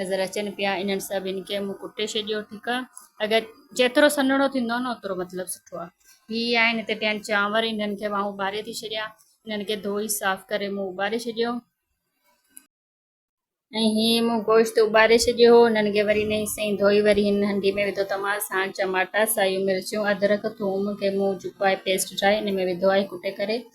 نظر اچن پيا انهن سڀني کي مون ڪٽي ڇڏيو ٺيڪ آ اگر جيترو سنهڙو ٿيندو نه اوترو مطلب سٺو آ هي آهن هتي پيا آهن چانور انهن کي ماهون ٻاري ٿي ڇڏيا انهن کي ڌوئي صاف ڪري مون ٻاري ڇڏيو ۽ هي مون گوشت ٻاري ڇڏيو هو انهن کي وري نئين سئي ڌوئي وري هن هنڊي ۾ وڌو ٽماٽا سان چماٽا سايون مرچون ادرڪ ٿوم کي مون جڪو آهي پيسٽ ٺاهي ان ۾ وڌو آهي ڪٽي ڪري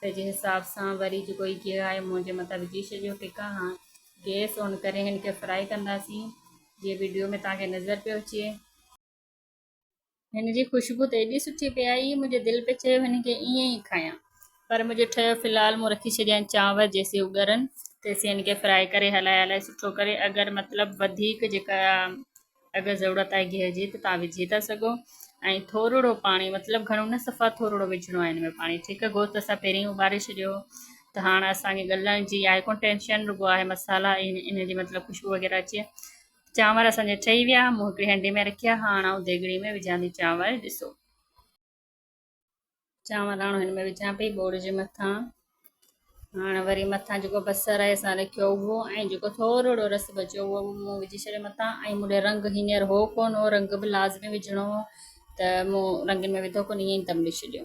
ته جنهن حساب سان وري جي ڪوئي گيهه آهي منهنجي مٿان وجهي ڇڏيو ٽڪا هاڻ گيس آن ڪري هن کي فرائي ڪنداسين جيئن وڊيو ۾ توهان کي نظر پيو اچي. هن جي خوشبو ته ايڏي سٺي پئي آئي منهنجي دل پئي چيو هن کي ائين ئي کايان پر منهنجو ٺهيو في الحال مون رکي ڇڏيا آهن چانور جيسين هو ڳرن تيسين هن کي فرائي ڪري هلائي هلائي سٺو ڪري اگر مطلب وڌيڪ جيڪا اگر ضرورت آهي گيهه جي ته تهان وجهي ٿا سگهو ۽ ٿورڙو پاڻي مطلب گهڻو نه صفا ٿورڙو وجهڻو آهي هن ۾ پاڻي ٺيڪ آهي گوشت اسان پهرين اٻاري ڇڏيو ته هاڻ اسانکي ڳلهڻ جي آهي ڪونه ٽينشن رڳو آهي مصالحا ان جي مطلب خوشبو وغيره اچي چانور اسانجا ٺهي ويا مون هڪڙي هنڊي ۾ رکيا هاڻ آئون ديگڙي ۾ وجهان ٿي چانور ڏسو چانور آڻو هن ۾ وجهان پئي ٻوڙ جي مٿان هاڻ وري مٿان جيڪو بصر آهي اسان رکيو اهو ۽ جيڪو ٿورڙو رس بچيو اهو مون وجهي ڇڏيو مٿان ۽ مون ڏي رنگ هينئر هو ڪونه رنگ به لازمي وجهڻو هو ته مون رنگين ۾ وڌو ڪونه ائين تم ڏئي ڇڏيو